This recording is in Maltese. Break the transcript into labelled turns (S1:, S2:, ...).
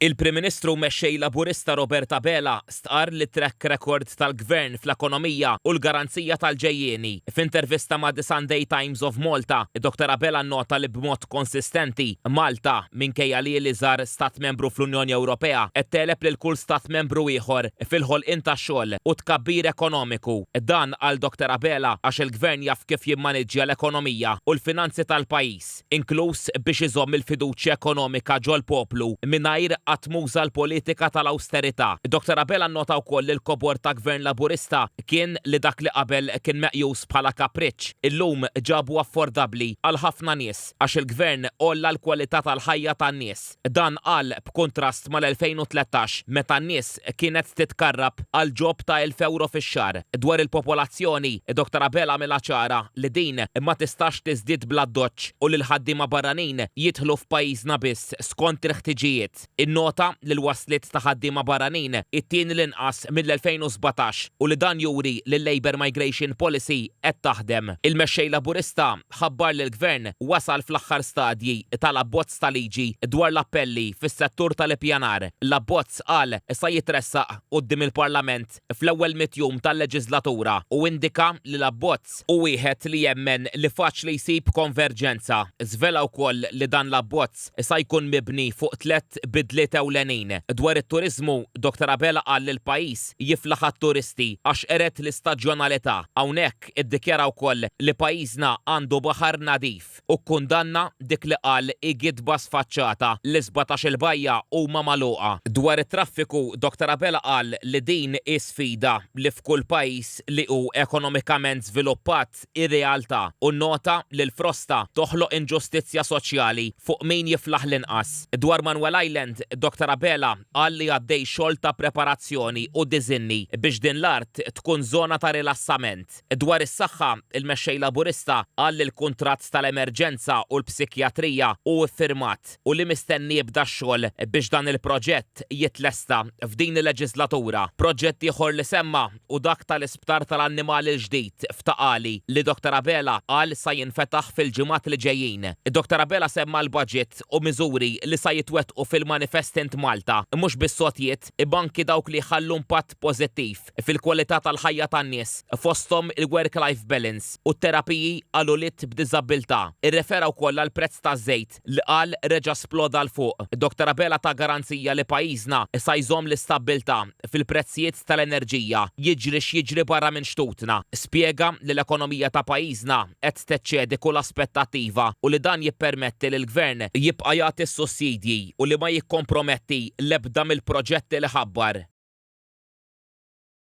S1: Il-Prim Ministru Mexxej Laburista Robert Abela stqarr li t-track record tal-Gvern fl-ekonomija hu l-garanzija tal-ġejjieni. F'intervista ma' The Sunday Times of Malta, id-Dottor Abela nnota li b'mod konsistenti, Malta, minkejja li hi l-iżgħar Stat Membru fl-Unjoni Ewropea, qed tegħleb lil kull Stat Membru ieħor fil-ħolqien ta' xogħol u tkabbir ekonomiku. Dan, qal Dottor Abela, għax il-Gvern jaf kif jimmaniġġja l-ekonomija u l-finanzi tal-pajjiż. inkluż biex iżomm il-fiduċja ekonomika ġol-poplu mingħajr qatt m'uża l-politika tal-awsterità. Dottor Abela nnota wkoll li l-kobor ta' Gvern Laburista kien li dak li qabel kien meqjus bħala kapriċċ, illum ġabu affordabbli għal ħafna nies għax il-Gvern għolla l-kwalità tal-ħajja tan-nies. Dan qal b'kuntrast mal-2013 meta n-nies kienet titkarrab għal ġob ta' elf ewro fix-xahar. Dwar il-popolazzjoni, Dottor Abela għamilha ċara li din ma tistax tiżdied bl-addoċċ u li l-ħaddiema barranin jidħlu f'pajjiżna biss skont il-ħtiġijiet. Innota li l-wasliet ta' ħaddiema barranin it-tieni l-inqas mill-2017 u li dan juri li l-Labour Migration Policy qed taħdem. Il-Mexxej Laburista ħabbar li l-Gvern wasal fl-aħħar stadji tal-abbozz ta' liġi dwar l-appelli fis-settur tal-ippjanar. L-abbozz, qal, sa jitressaq quddiem il-Parlament fl-ewwel mitt jum tal-leġislatura u indika li l-abbozz hu wieħed li jemmen li faċli jsib konverġenza. Żvela wkoll li dan l-abbozz sa jkun mibni fuq tliet bidliet ewlenin. Dwar it-turiżmu, Dottor Abela qal li l-pajjiż jiflaħ għat-turisti għax qered l-istaġjonalità. Hawnhekk, Hawnhekk iddikjara wkoll li pajjiżna għandu baħar nadif u kkundanna dik li qal Igidba Sfaċċata li sbatax-il bajja huma magħluqa. Dwar it-traffiku, Dr Abela qal li din hi sfida li f'kull pajjiż li hu ekonomikament żviluppat hi realtà u nnota li l-frosta toħloq inġustizzja soċjali fuq min jiflaħ l-inqas. Dwar Manuel Island, Dr Abela Qal li għaddej xogħol ta' preparazzjoni u diżinni biex din l-art tkun żona ta' rilassament. Dwar is-saħħa, il-Mexxej Laburista qal li l-kuntratt tal-emerġenza u l-psikjatrija hu ffirmat u li mistenni jibda x-xogħol biex dan il-proġett jitlesta f'din il-leġislatura. Proġett ieħor li semma u dak tal-isptar tal-annimali l-ġdid f'Ta' Qali li Dottor Abela qal sa jinfetaħ fil-ġimgħat li ġejjin. Dottor Abela semma l-budget u miżuri li sa jitwettqu fil-Manifest Int Malta, mhux biss għotjiet, imma anki dawk li jħallu impatt pożittiv fil-kwalità tal-ħajja tan-nies, fosthom il-work-life balance u t-terapiji għal ulied b'diżabbiltà. Irrefera wkoll għall-prezz taż-żejt. Dak li qal reġa' sploda 'l fuq. Dr Abela ta garanzija li pajjiżna sa jżomm l-istabbiltà fil-prezzijiet tal-enerġija, jiġri x'jiġri barra minn xtutna. Spjega li l-ekonomija ta' pajjiżna qed teċċedi kull aspettattiva u li dan jippermetti li l-Gvern jibqa' jagħti s-sussidji u li ma jikkomprometti l-ebda mill-proġetti li ħabbar.